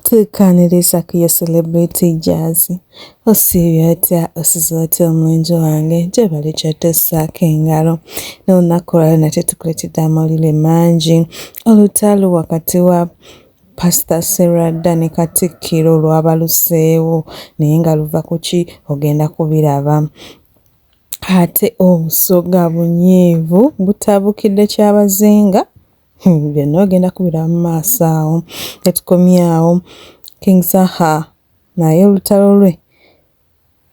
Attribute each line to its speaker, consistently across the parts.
Speaker 1: Tukaaniriza ku ya celebrity jaazi osiibye otya osize otya omulenzi wange gyebali kyotosaako engalo n'olunaku olwalero nate tukuleetedde amawulire mangi olutalo wakati wa pasita serwadda ne katikkiro lwabaluseewo naye nga luva ku ki ogenda kubiraba ate obusoga bunyiivu butabukidde kyabazinga Hmm, byonna ogenda kubira mu maaso awo tetukomye awo king saha naye olutalo lwe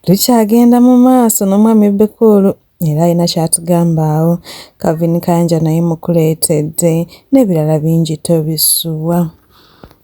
Speaker 1: lukyagenda mu maaso n'omwami bekuulu era alina kyatugamba awo kavin kanja naye mukuleetedde n'ebirala bingi tobisuwa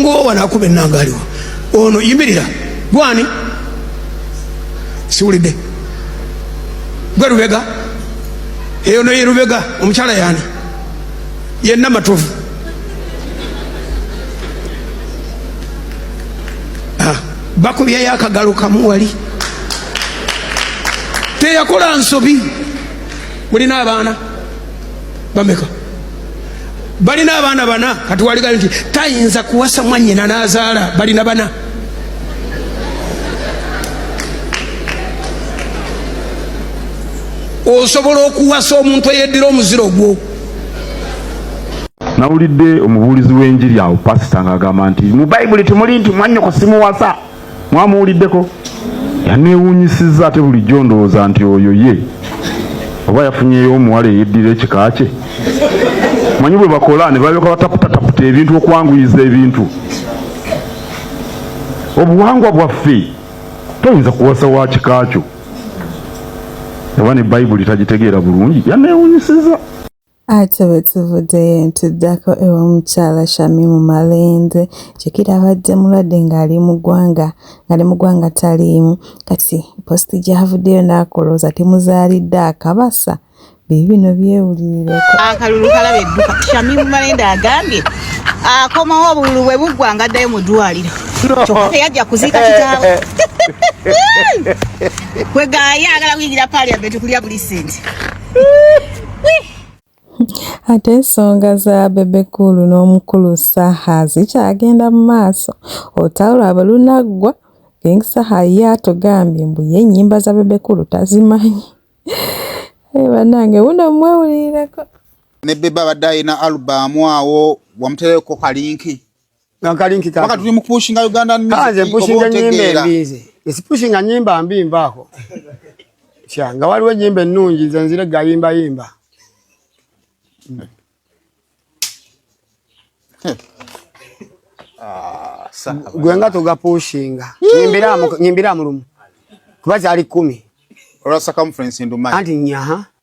Speaker 1: ngowo wano
Speaker 2: akuba ennanga aliwo ono yimirira gwani siwulidde gwe lubega eyo noye lubega omukyala yani yenna matovu ah, bakubyayo akagalo kamu wali teyakola nsobi mulina abaana bameka balina abaana bana kati waliga nti tayinza kuwasa mwanyina nazaala balina bana osobola okuwasa omuntu eyeddira omuziro gwo
Speaker 3: nawulidde omubuulizi w'enjiri awo pasita ng'agamba nti mu bayibuli temuli nti mwanyoko simuwasa mwamuwuliddeko yaneewuunyisizza ate bulijjo ndowooza nti oyo ye oba yafunyeyo omuwala eyeddira ekika kye manyi bwe bakola ne balyoka bataputataputa ebintu okwanguyiza ebintu obuwangwa bwaffe toyinza kuwasa wa kika kyo oba ne bayibuli tagitegeera bulungi yaneewunyisiza Ate
Speaker 1: bwe tuvuddeyo ne tuddako ew'omukyala Shamimu Malende jjukira abadde mulwadde ng'ali mu ggwanga ng'ali mu ggwanga taliimu kati post gy'avuddeyo n'akolooza temuzaalidde akabasa biibino byewulirireko akalulu kalaba
Speaker 4: edduka Shamimu Malende agambye akomawo obululu bwe buggwa nga addayo mu ddwaliro kyokka teyajja kuziika kitaawe kwegaaye ayagala kuyingira parliament kulya buli sente
Speaker 1: ate ensonga za bebekulu n'omukulu saha zikyagenda mu maaso olutalo lwabwe lunaggwa king saha ye atugambye mbu ye ennyimba za bebekulu tazimanyi eh, banange wuno mwewulirireko ne bebe
Speaker 5: abadde alina alubamu awo wamuterekoko kalinki Gankalinki
Speaker 6: kati. Wakati tuli mukupushinga Uganda
Speaker 5: ni. Kaze pushinga nyimbe
Speaker 6: mbize. Esi pushinga nyimba mbi mbako. Sha, nga waliwo nyimbe nungi zenzire gayimba yimba. Ah, sawa. Gwenga toga pushinga. Nyimbira mu nyimbira mu rumu. Kubaza ali 10. Rasa
Speaker 5: conference ndumanyi. Anti nyaha.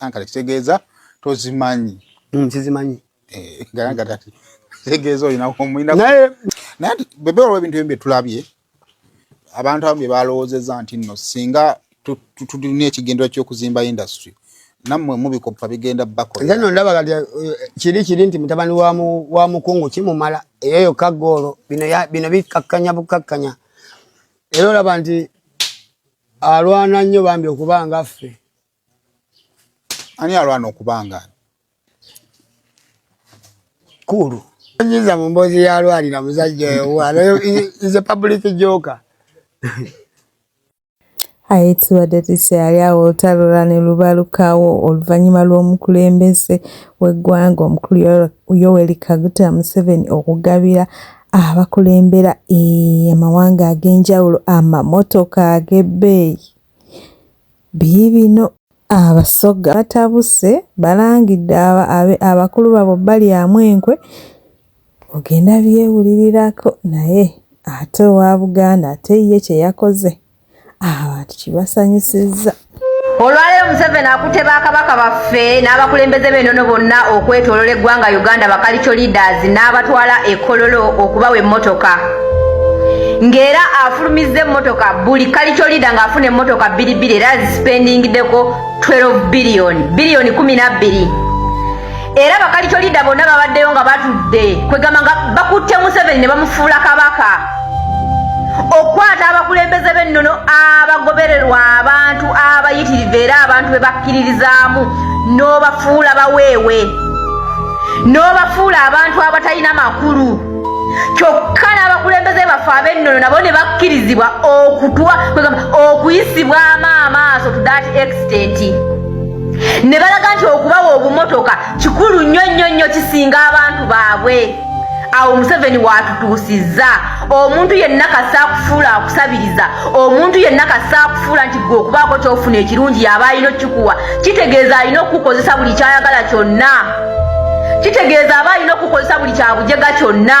Speaker 6: ankale
Speaker 5: kitegeeza tozimanyi mm, sizimanyi
Speaker 6: eh, garagatati
Speaker 5: kitegeeza olinaomulina naye naye
Speaker 6: bebe olwa
Speaker 5: ebintu ebimu byetulabye abantu abamu bye balowoozeza nti nno singa tulina ekigendera ky'okuzimba industry nammwe mubikoppa bigenda bakola no ndaba kati eh,
Speaker 6: kiri kiri nti mutabani wa mukungu kimumala eyo yokka goolo bino bikkakkanya bukkakkanya era olaba nti alwana nnyo bambi okuba nga ffe
Speaker 5: ani alwana okuba nga
Speaker 6: kulu nyiza mu mboozi yalwalira muzajja owaanayo is a public joker
Speaker 1: aye tubadde tukyali awo olutalola ne lubalukawo oluvannyuma lw'omukulembeze w'eggwanga omukulu yoweri kaguta museveni okugabira abakulembera eh, amawanga ag'enjawulo amamotoka ag'ebbeeyi biibino abasoga batabuse balangidde abakulu babo balyamu enkwe ogenda byewulirirako naye ate owa buganda ate ye kye yakoze abantu kibasanyusizza olwaleero
Speaker 7: museveni akutte bakabaka baffe n'abakulembeze b'enono bonna okwetolola eggwanga uganda bakalico leaders n'abatwala ekololo okubawa emmotoka ng'era afulumizza emmotoka buli kalico leader ng'afuna emmotoka bbiri bbiri era zisipendingideko 12 biliyoni biliyoni kumi na bbiri era bakalicolida bonna babaddeyo nga batudde kwegamba nga bakutte museveni ne bamufuula kabaka okukwata abakulembeze b'ennono abagobererwa abantu abayitirivu era abantu be bakkiririzaamu n'obafuula baweewe n'obafuula abantu abatalina makulu kyokka n'abakulembeze baffe ab'ennono nabo ne bakkirizibwa okutwa okuyisibwamu amaaso to that extent ne balaga nti okubawa obumotoka kikulu nnyo nnyo nnyo kisinga abantu baabwe awo museveni waatutuusizza omuntu yenna kasa akufuula akusabiriza omuntu yenna kasa akufuula nti gwe okubaako kyofuna ekirungi yaba alina okukikuwa kitegeeza alina okukukozesa buli kyayagala kyonna kitegeeza aba alina okukukozesa buli kyabujega kyonna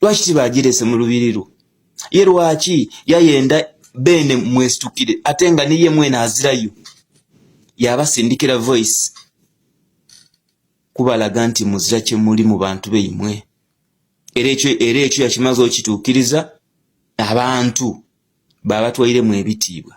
Speaker 8: lwaki tibagirese mu lubiri lwo ye lwaki yayenda beene mwesitukire ate nga niye mwena azirayo yabasindikira voice kubalaga nti muzira kyemuli mu bantu beimwe era ekyo era ekyo yakimaze okituukiriza abantu babatwairemu ebitiibwa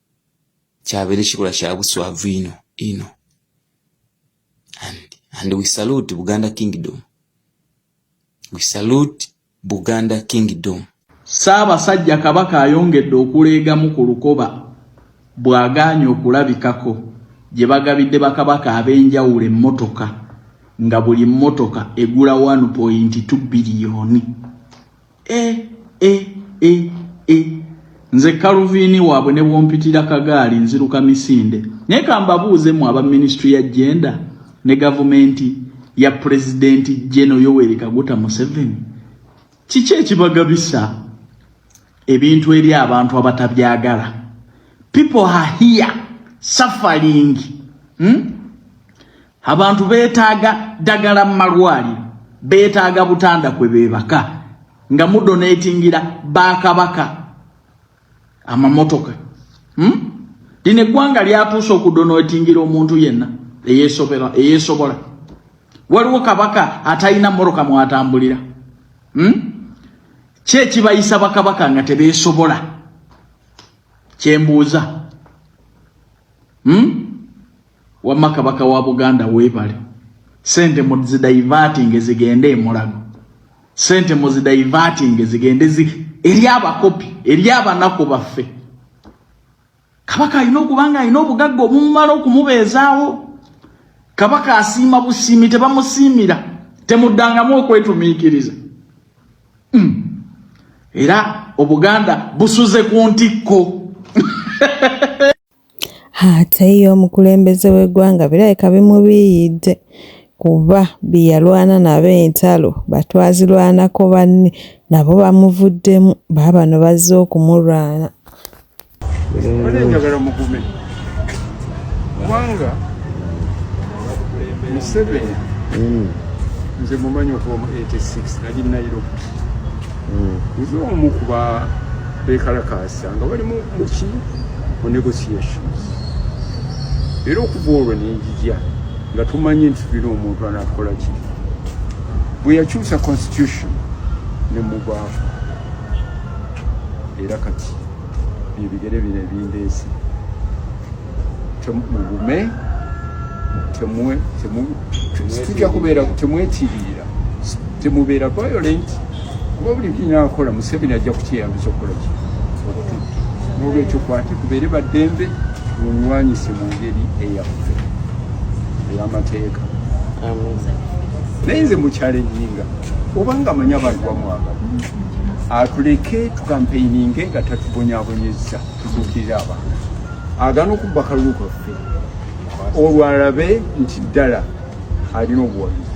Speaker 8: kyabeera ekikolwa kya buswavu ino ino and, and we salute buganda kingdom we salute buganda kingdom ssaabasajja
Speaker 9: kabaka ayongedde okuleegamu ku lukoba bw'agaanye okulabikako gye bagabidde bakabaka ab'enjawulo emmotoka nga buli mmotoka egula 1.2 biliyoni e, e, e, e. nze kaluviini waabwe ne bwompitira kagaali nziruka misinde naye kambabuuze mu aba minisitule ya jenda ne gavumenti ya pulezidenti jeno yoweri kaguta museveni kiki ekibagabisa ebintu eri abantu abatabyagala people are here suffering hmm? Abantu betaaga ddagala mu malwaliro, betaaga butanda kwe beebaka nga mudoneetingira bakabaka amamotoka hmm? lino eggwanga lyatuuse okudoneetingira omuntu yenna eyeesobola. Waliwo kabaka atalina mmotoka mwatambulira hmm? ki ekibayisa bakabaka nga tebeesobola kyembuuza hmm? Wamma kabaka wa Buganda weebale. Sente muzidaivatinge zigende emulago. Sente muzidaivatinge zigende zi eri abakopi eri abanaku baffe. Kabaka alina okuba nga alina obugagga obumumala okumubeezaawo. Kabaka asiima busiimi tebamusiimira temuddangamu okwetumiikiriza. Mm. Era Obuganda busuze ku ntikko.
Speaker 1: Ate ye omukulembeze w'eggwanga birabika bimubiiyidde kuba be yalwana nabo entalo batwazirwanako banne nabo bamuvuddemu baabano bazze okumulwana.
Speaker 10: Mbadde njagala mugume kubanga Museveni hmm. nze mumanyi okuva mu 86 nali Nairobi hmm. nze omu kuba bekalakaasa nga bali muki mu negotiations era okuva olwo nenjija nga tumanyi nti tulina omuntu anakola ki bwe yakyusa constitution ne mugwavu era kati ebigere bino ebindeesi mugume tujja kubeera temwetiiriira temubeera violent kuba buli kinakola museveni ajja kukyeyambisa okukola ki okututta nolwekyo kwate kubeere baddembe tunywanyise mu ngeri eyaffe ey'amateeka naye nze mukyalennyinga obanga amanyi abantu bamwagala atuleke kampeininge nga tatubonyabonyezza tutuukirira abantu agana okubba kalulu kaffe olwo alabe nti ddala alina obuwagizi